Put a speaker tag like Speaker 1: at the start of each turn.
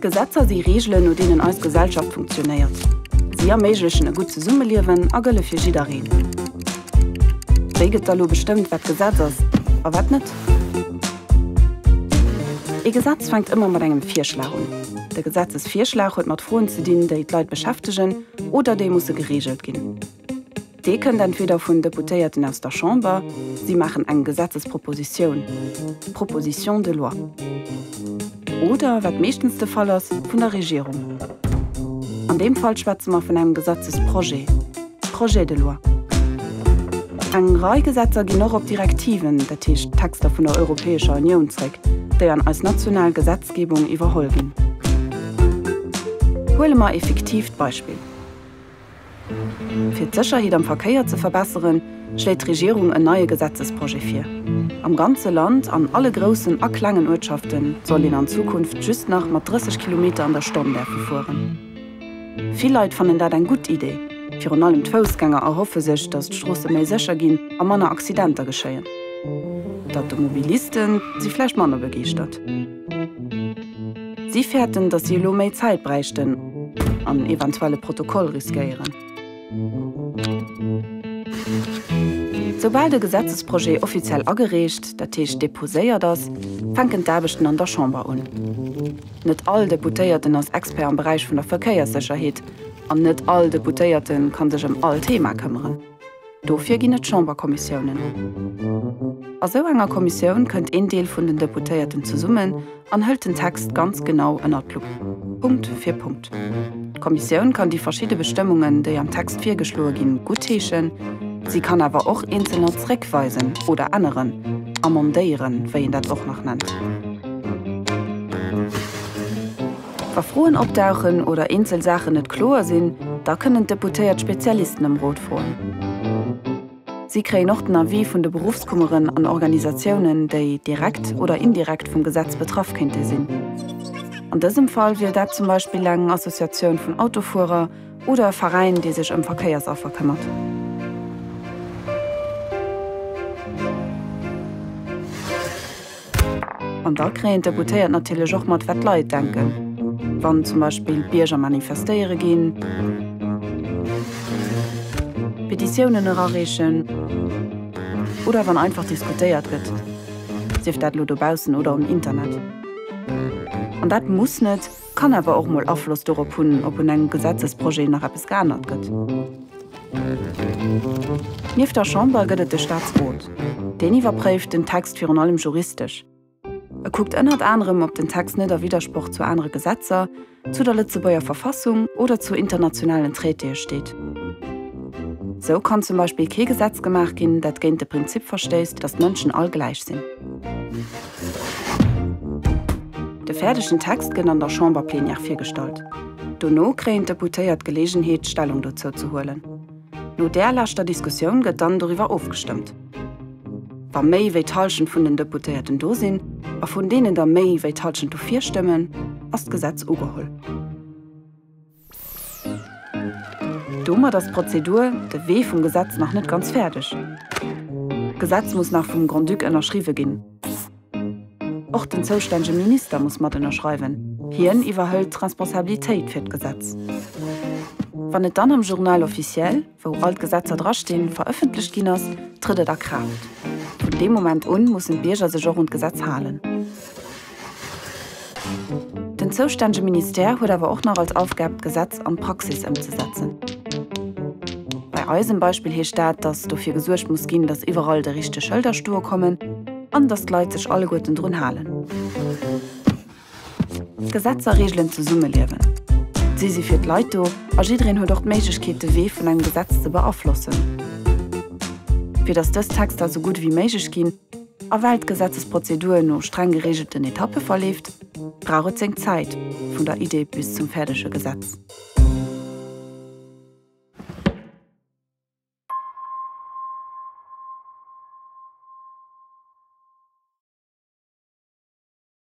Speaker 1: Gesetzer si Reegelen, no deenen eis Gesellschaft funktionéiert. Si erméiglechen e gutt Zesummeliewen a gëlle fir jiddereen. Wéi gëtt da lo bestëmmt, wat Gesetz ass a wat net? Ee Gesetz fänkt ëmmer mat engem Virschlag un. De Gesetzesvirschlag huet mat Froen ze dinn, déi d'Leit beschäftegen oder déi musse gereegelt ginn. Dee kënnt entweder vun Deputéierten aus der Chamber, si maachen eng Gesetzespropositioun, Proposition de loi, oder, wat meeschtens de Fall ass, vun der Regierung. An deem Fall schwätze mer vun engem Gesetzesprojet, projet de loi. Eng Rei Gesetzer ginn och op Direktiven, dat heescht Texter vun der Europäescher Unioun zréck, déi an eis national Gesetzgebung iwwerholl ginn. Huele mer ee fiktiivt Beispill. Fir d'Sécherheet am Verkéier ze verbesseren, schléit d'Regierung en neie Gesetzesprojet vir. Am ganze Land, an alle groussen a klengen Uertschafte soll een an Zukunft just nach mat 30 Kilometer an der Stonn däerfe fueren. Vill Leit fannen dat eng gutt Iddi, virun allem d'Foussgänger erhoffe sech, datt d'Stroosse méi sécher ginn a manner Accidenter geschéien. D'Automobiliste si vläicht manner begeeschtert. Si fäerten, datt si elo méi Zäit bräichten an eventuelle Protokoll riskéieren. Soubal de Gesetzesprojet offiziell agereecht, dat heescht deposéiert ass, fänken d'Aarbechten an der Chamber un. Net all Deputéierten ass Expert am Beräich vun der Verkéierssécherheet an net all Deputéierte ka sech ëm all Thema këmmeren. Dofir ginn et Chamberkommissiounen. A sou enger Kommissioun kënnt een Deel vun den Deputéierten zesummen an hëlt den Text ganz genau ënnert d'Lupp, Punkt fir Punkt. D'Kommissioun kann déi verschidde Bestëmmungen, déi am Text virgeschloe ginn, guttheeschen, si kann awer och eenzelner zréckweisen oder änneren, amendéieren, wéi een dat och nach nennt. Wa Froen opdauchen oder eenzel Saachen net kloer sinn, da kënnen d'Deputéiert Spezialisten ëm Rot froen. Si kréien och den Avis vun de Beruffskummeren an Organisatiounen, déi direkt oder indirekt vum Gesetz betraff kéinte sinn. An dësem Fall wier dat zum Beispill eng Associatioun vun Autofuerer oder e Veräin, dee sech ëm Verkéiersaffer këmmert. An da kréien d'Deputéiert natierlech och mat, wat d'Leit denken, wann zum Beispill d'Bierger manifestéiere ginn, Petitiounen erareechen oder wann einfach diskutéiert gëtt, sief dat elo dobaussen oder um Internet. An dat muss net. Kann awer och mol Afloss dorop hunn, ob un engem Gesetzesprojet nach eppes geännert gëtt. Nieft der Chamber gëtt et de Staatsrot. Deen iwwerpréift den Text virun allem juristesch. E kuckt ënnert anerem, ob den Text net a Widdersproch zu anere Gesetzer, zu der Lëtzebuerger Verfassung oder zu internationalen Traitéë steet. Esou kann zum Beispill kee Gesetz gemaach ginn, dat géint de Prinzip verstéisst, datt d'Mënschen all gläich sinn. De fäerdegen Text gëtt an der Chamberplenière virgestallt. Dono kréien d'Deputéiert d'Geleegenheet, Stellung dozou ze huelen. No där leschter Diskussioun gëtt dann doriwwer ofgestëmmt. Wa méi wéi d'Hallschent vun den Deputéierten do sinn a vun deenen der méi wéi d'Hallschent dofir stëmmen, ass d'Gesetz ugeholl. Domat ass d'Prozedur, de Wee vum Gesetz nach net ganz fäerdeg. D'Gesetz muss nach vum Grand-Duc ënnerschriwwe ginn. Och den zoustännege Minister muss mat ënnerschreiwen, hien iwwerhëlt d'Responsabilitéit fir d'Gesetz. Wann et dann am Journal officiel. wou all d'Gesetzer dra stinn, verëffentlecht ginn ass, trëtt et a Kraaft. Vun deem Moment un mussen d'Bierger sech och un d'Gesetz halen. Den zoustännege Ministère huet awer och nach als Aufgab d'Gesetz an d'Praxis ëmzesetzen. Bei eisem Beispill heescht dat, datt dofir gesuergt muss ginn, datt iwwerall déi richteg Schëlder stoe kommen an datt d'Leit sech alleguerten drun halen. D'Gesetzer reegelen d'Zesummeliewen. Si si fir d'Leit do a jiddereen huet och d'Méiglechkeet, de Wee vun engem Gesetz ze beaflossen. Fir datt dës Texter esou gutt ewéi méiglech ginn a well d'Gesetzesprozedur no streng gereegelten Etappe verleeft, brauch et seng Zäit, vun der Idee bis zum fäerdege Gesetz.